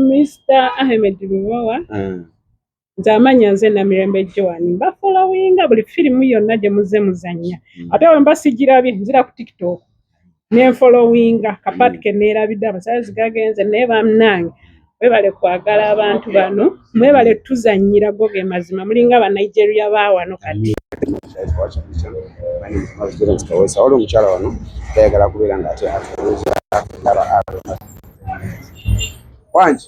Mr. Ahmed Lubowa mm. nze amanya nze namirembe Joan mbafolowinga buli firimu yonna gye muze muzannya mm. ate we mba sigirabye nzira ku tiktok nenfolowinga kapaati mm. ke neerabidde amasanyalazi gagenze naye bamnange webale kwagala abantu bano Mwebale tuzanyira go ge mazima mulinga ba Nigeria ba wano kati. Waliwo omukyala wano tayagala kubeera nga ate atuuza ndaba wangi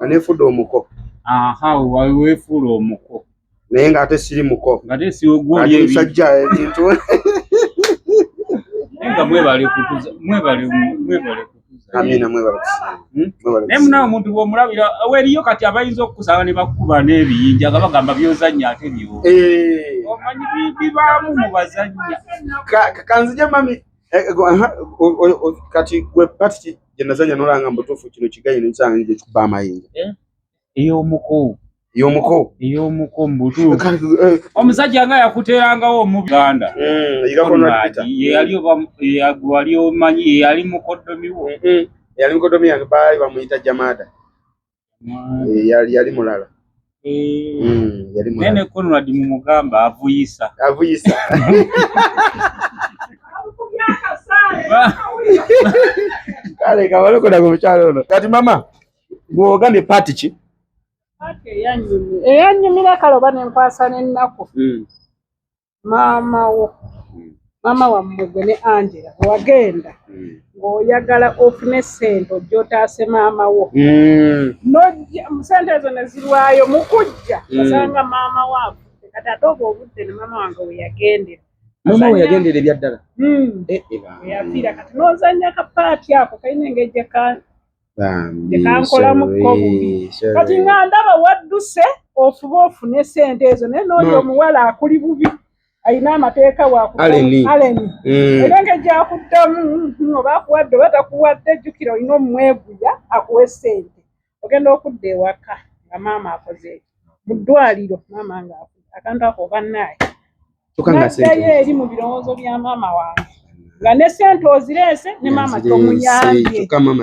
anefude omuko aha wewefula omuko naye nga ate siri muko ngate siogwomusajja ebintu nga mwebale kutuza mwebale mwebale amina mwebale hmm? mwebale naye munawe omuntu bwomulabira weriyo kati abayinza okukusaba ne bakukuba n'ebiyinja nga bagamba byozannya ate byo eh. omanyi bibaamu mu bazannya kanzija mami Eh, eh, kati gwe pati gyenazanya nolanga mbutuufu kino kigayi nensanga nje kikuba amayinja eh? eyomuko eyomuko eyomuko mbutuufu omusajja nga yakuterangawo omuganda yeyali omanyi yeyali mukodomiwo yeyali mukodomi yange baali bamuyita jamada Eh, yali yali mulala eh, mm, yali mulala nene Conrad mumugamba avuyisa avuyisa kale kabaloko na kuchalo ono kati mama gwoga ne party ki eyanyumira kale oba nenkwasa nennaku mm. maama wo hmm. maama wammwe gwe ne angela wagenda hmm. ng'oyagala ofune sente ojja otaase maama wo hmm. nojja sente ezo ne zirwayo mu kujja osanga maama waabwe kati ate obwo obudde ne maama wange weyagendera maama we yagendera ebyaddala eh, eh, eyafiira kati n'ozannya kapaati ako kalina engeri gye tekankolamuko bubi kati nga ndaba wadduse ofuba ofune sente ezo naye nooyo omuwala akuli bubi alina amateeka wakualeni mm. era nga gyakuddamu hmm, oba akuwadde oba takuwadde jjukira olina omumweguya akuwe sente ogenda okudda ewaka nga maama akoze mu ddwaliro maama nga akantu ako oba naaye naddayo eri mu birowoozo bya maama wange nga ne sente ozireese ne maama tomuyambyeawo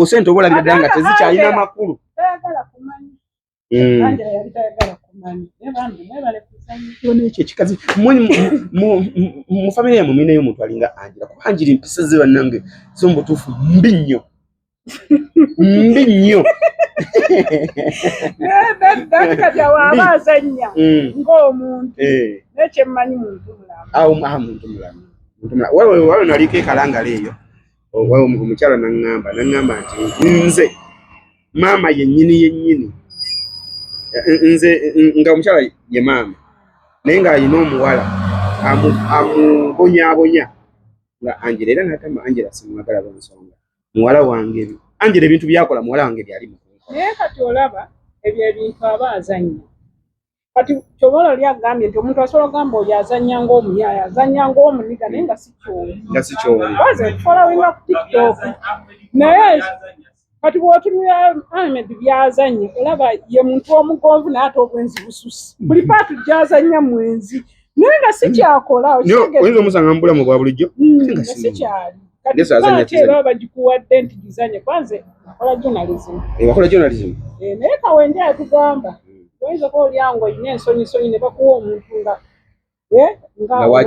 sente obolabira ddala nga tezikyalina makulu tayagala kumanya hmm. angela yali tayagala kumanya naye bambi mwebale kuzanyo ekyo ekikazi mu famire yamwe mulinayo omuntu alinga angela kuba angela empisa ze bannange zo mu butuufu mbi nnyo mbi nnyo azanya mm. ng'omuntu eh. naye kyemmanyi muntu mulamuwaliwo naliko ekalangala eyo omukyala naŋŋamba naŋŋamba nti nze maama yennyini yennyini nze nga omukyala ye maama naye ng'alina omuwala amubonyabonya nga angela era natama angela simwagala lwensonga muwala wange angela ebintu byakola muwala wange byali naye kati olaba ebyo ebintu aba azannya kati kyoba olali agambye nti omuntu asobola ogamba oyo azannya ngaomuyaaya azannya ngaomuniga naye nga sikyowaze okufolawinga ku tiktok naye kati bwotunira ahmed byazannya olaba ye muntu omugonvu naye ate obwenzi bususi buli paatu gyazannya mwenzi naye nga sikyakola oyinza omusanga mu bulamu bwa bulijjo hmm, nga sikyali era bagikuwadde nti gizanye kwanze akola journalism eh, akola journalism eh, naye kawenje atugamba oyinza kuba olyango olina ensonyisonyi ne bakuwa omuntu nga eh,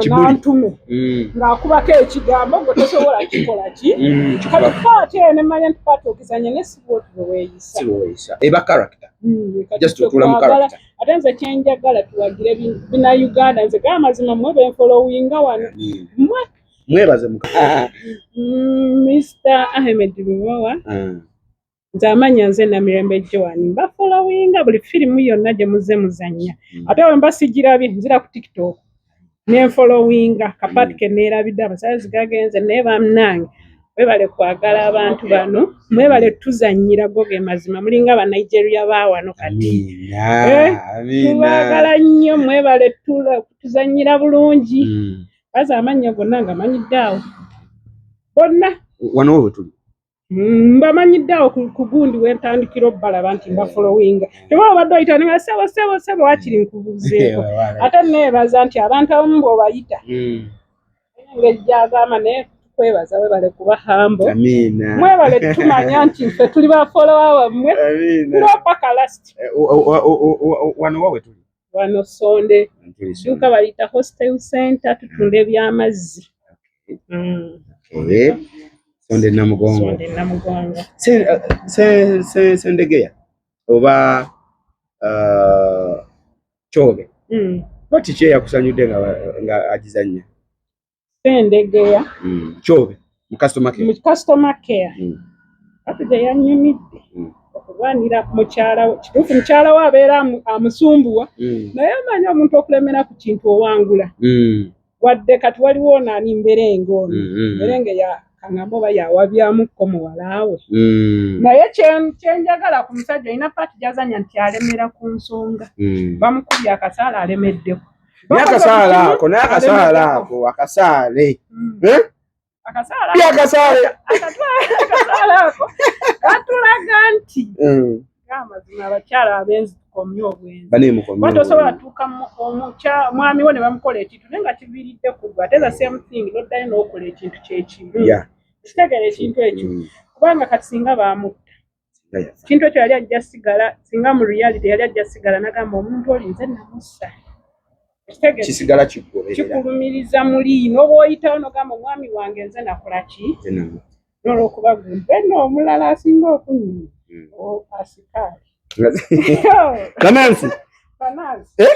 ngantume hmm. ng'akubako ekigambo gwe tosobola kikola ki hmm, kati paati eyo ne manya nti paati ogizanye ne sibwotubeweeyisa eba character just otula mu character ate nze kyenjagala tuwagire bina uganda nze gaa mazima mwe benfolowinga wano mwe mwebaze muka mm, mr ahmed lubowa ah. nze amanya nze namirembe joan mbafolowinga buli firimu yonna gye muze muzanya mm. ate wemba sigirabye nzira ku tiktok nenfolowinga kapaati keneerabidde amasanyalaze gagenze naye bannange mwebale kwagala abantu bano mwebale tuzannyira go ge mazima mulinga banigeria baawano kati eh, tubagala nnyo mwebale tuzannyira bulungi mm. baza amannya gonna nga manyidde awo bonna wano wetuli Mm, mbamanyidde awo ku ku gundi wentandikira obalaba nti mbafolowinga teba obadde oyita nga sebo sebo sebo wakiri nkubuzeeko ate neebaza nti abantu abamu bweobayita Mm. engeri gyagamba naye tukwebaza webale kuba hambo Amina. mwebale tumanya nti nfe tuli bafolowa wammwe Amina. tulopaka last Eh, o- o- o- o- o- wano wa wetuli wano sonde duka bayita hostel center tutunda mm. ebyamazzi eh, sonde namugongo sendegeya uh, oba uh, kyobe mm. bati kyeyakusanyudde nga agizanya Sendegeya mm. Kyobe mu customer care, mu customer care. Mm. Kati gye yanyumidde mm. okulwanira mukyala we kituufu mukyala we abeera amusumbuwa mm. naye amanyi omuntu okulemera ku kintu owangula mm. wadde kati waliwo naani mberenga ono mm, mm, mm. mberenga ya kangamba oba yawabyamuko muwalaawe mm. naye kyenjagala ku musajja olina paati gyazanya nti alemera ku nsonga mm. bamukubye akasaala alemeddeko naye akasaala ako naye akasaala ako akasaale hmm. eh? pia akasaale katulaga nti hmm. amazima abakyala abenzi tukomye obwenziwatosobola tuuka omwami wo ne bamukola ekintu naye nga kiviiridde kugwe ate the same thing noddayo n'okola ekintu kyekimu kitegera ekintu ekyo hmm. kubanga kati singa bamutta kintu ekyo yali ajja sigala singa mu reality yali ajja sigala nagamba omuntu oli nze namussa kisigala kikulumiriza muli nobwoyitawo nogamba omwami wange nze nakolaki nolwokuba gumpe nomulala asinga okunyuma hmm. asikaali banansi eh?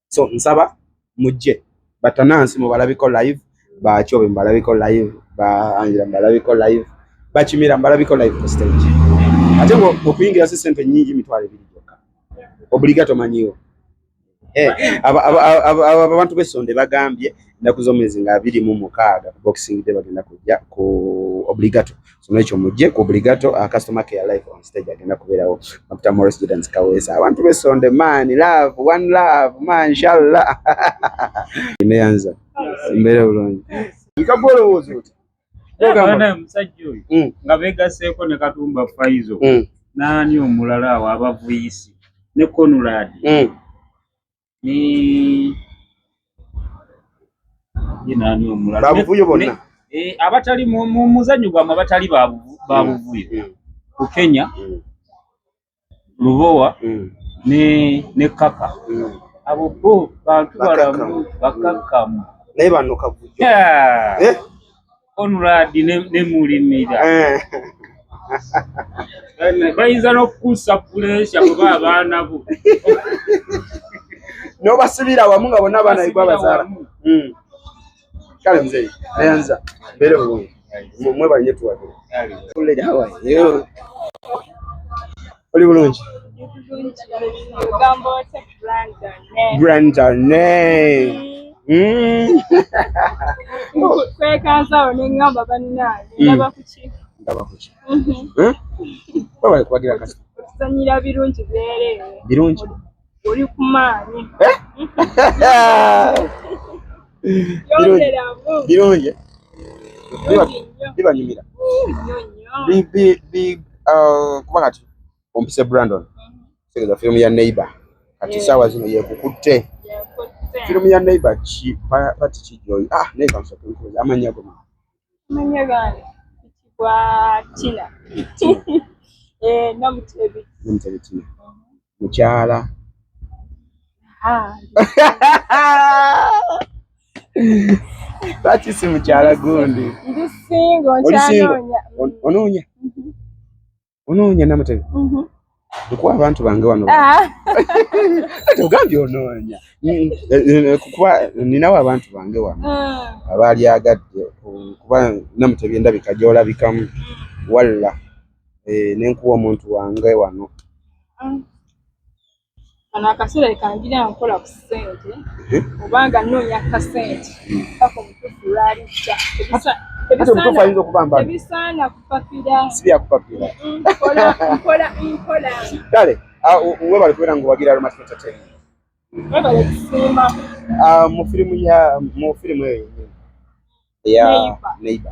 so nsaba mujje batanansi mubalabiko live bakyobe mubalabiko live ba angela mubalabiko live bakimira mubalabiko live ku stage ate okuyingira si sente nyingi mitwalo ebiri gyokka obligato manyiwo eh, abantu besonde bagambye ennaku z'omwezi nga abiri mu mukaaga boxing day bagenda kujja ku obligato so n'ekyo mujje ku obligato a customer care live on stage agenda kubeerawo dr morris judans kaweesa abantu besonde man love one love man inshallah neyanza mbeera bulungi nkagwa olowooza oti ogamba musajja oyo mm. nga begaseeko ne katumba faizo mm. naani omulala awo abavuyisi ne conrad mm. ni yinaani omulala babuvuyo bonna eh, abatali mu muzanyo gwamu abatali babuvuyo mm, mm. ku Kenya mm. Lubowa ne ne Kaka abo bo bantu balamu bakakamu naye bano kavuyo eh? Conrad ne mulimira eh. bayinza n'okukuusa puleesha kuba abaana bo n'obasibira wamu nga bonna abaana bigwa bazaala hmm. kale mzeyi nayanza mbeere bulungi mwebanye tuwagire oli bulungi grandane kwekansawo nengamba banange ndaba kuki ndaba kuki webale kubagira kasi okuzanyira birungi byereere birungi oli ku maanyi birungi bibanyumira uh, kuba kati ompise brandon tegeza firimu ya neighbor kati saawa zino yekukutte firimu ya neighbor ki pati kijoyi ah naye kansoke amanya goma mukyala lwaki si mukyala gundi onoonya onoonya namutebi mhm. kuba abantu bange wano ah. kati ogambye onoonya eh, eh, kuba ninawo abantu bange wano ah. abaali agadde kuba namutebi endabika gyolabikamu walla eh, nenkuwa omuntu wange wano ah. kano akaseera kangira nkola ku ssente obanga nnoonya kasente paka omutufu lwalijja ebisaana kupapiraebyakupapirakale webale kubeera nga owagira aromatmetaten webale kusiima ah, mu firimu eyo neiba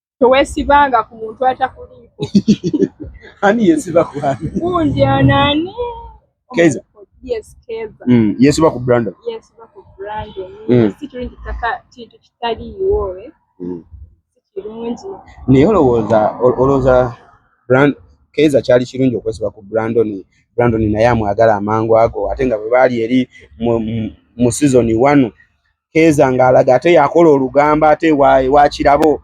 tewesibanga ku muntu atakuliiko ani yesiba kwani kunje anani keza yes keza mm yesiba ku brandon yesiba ku brandon mm. si kirungi taka kintu kitali iwowe mm. si kirungi naye olowooza olowooza brand keza kyali kirungi okwesiba ku brandon brandon naye amwagala amangu ago ate nga bwe baali eri mu season one keeza ng'alaga ate yakola olugamba ate wakirabo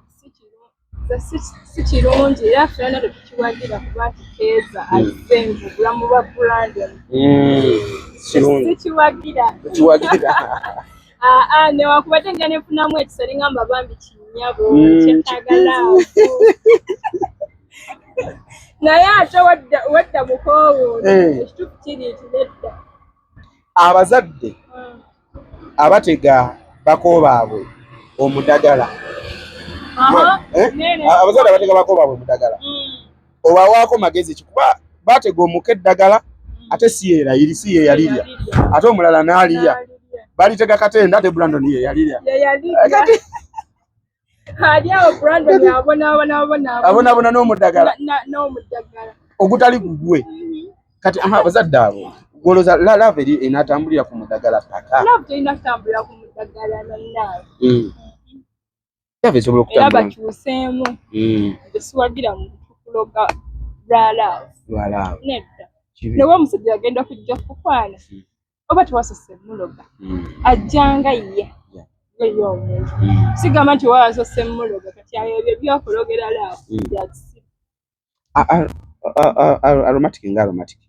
si kirungi era fena tetukiwagira kuba nti keeza hmm. azze mubulamu bwa brandon hmm, tekiwagira aa newakubadde nga nefunamu ekisa lingamba bambi kinyabo hmm, kyetagala naye ate wadda mukoowo eh. ekitufu kiri nti nedda abazadde abatega bako baabwe omudagala eh? abazadde abatega bako baabwe omudagala mm. obawaako magezi kikuba batega omuka eddagala mm. ate siyeera iri si yeyalirya ate omulala naalirya balitega katenda ate brandon yeyalirya abonaabona n'omudagala ogutali gugwe kati abazadde abo goloza lalaava eri enatambulira ku mudagala paka hmm. lava esobola okutambulabakyuseemu hmm. esiwagira mu kuloga lwalaavu nedda newe omusajja yagenda kujja kukwana hmm. oba tewasose muloga mm. ajjanga ye yeye omuntu mm. sigamba nti oba wasose muloga kati ayo ebyo byokologerala aromatic nga aromatic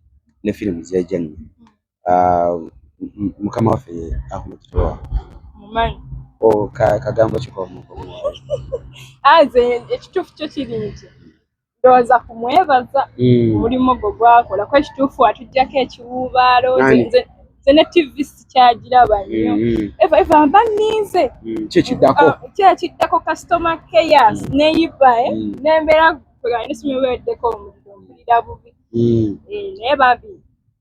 ne firimu zeja nyo mukama waffe ye ahmed towa kagambo kikomu aze ekituufu kyo kiri nti ndowooza ku mwebaza hmm. omulimu gwo gwakola kuba ekituufu watujjako ekiwuubaalo nze ne tv sikyagiraba nnyo hmm, hmm. eva eva mba nninze kyekiddako ah, kyekiddako kasitoma keyas neyibae eh? nembeera kweganisumyeweddeko omuliro mpulira bubi eh, naye babi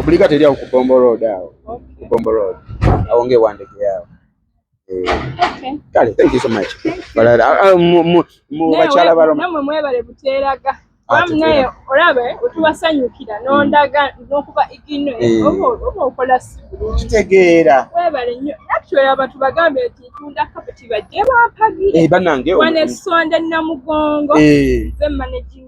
Obligat eri awo ku Bombo Road awo. Ku Bombo Road. Awo nge wandege yawo. Eh, kale, thank you so much. Balala ah, ah, mu mu mu bakyala balo. Namwe mwebale buteraga. Wamnaye ah, olabe otubasanyukira n'ondaga n'okuba igino eh. obo obo okola sibu. Kitegeera. Webale nnyo. Actually abantu bagambe nti tunda kapeti bajje bampagi. Eh banange. Wane sonde namugongo. Eh. Ze managing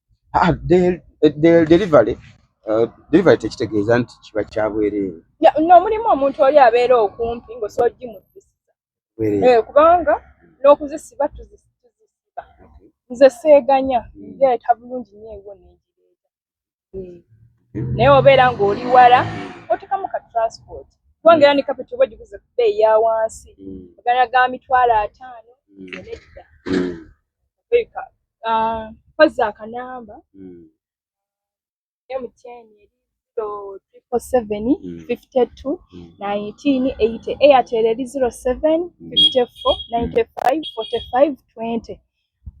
ah, delivery uh, delivery tekitegeeza nti kiba kya bwereere nomulimu omuntu oli abeera okumpi ngaosogimutusiza eh, kubanga n'okuzisiba tuzisiba nze seeganya hmm. nzeeta bulungi nyo ewo nenjireeta hmm. naye obeera ng'oli wala otekamu ka transport kubanga era ne kapeti oba ogiguze ku bbeeyi ya wansi magana hmm. ga mitwalo ataano nedda kozza akanamba mtn eri zero triple seven fifty two nineteen eighty airtel eri zero seven fifty four ninety five forty five twenty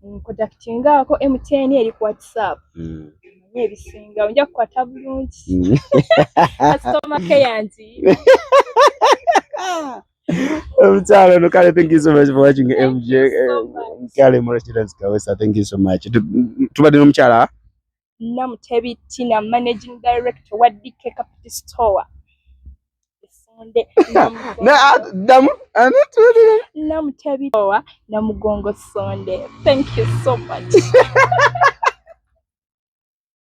nkodakitingaako mtn eri ku whatsapp mm. naye ebisinga onja kukwata bulungi kasitoma keyangi omukyala ono kale thank you so much for watching mj kale murachidans kawesa thank you so much tubadde n'omukyala namutebi tina managing director wa dk capital store namutebi owa namugongo sonde thank you so much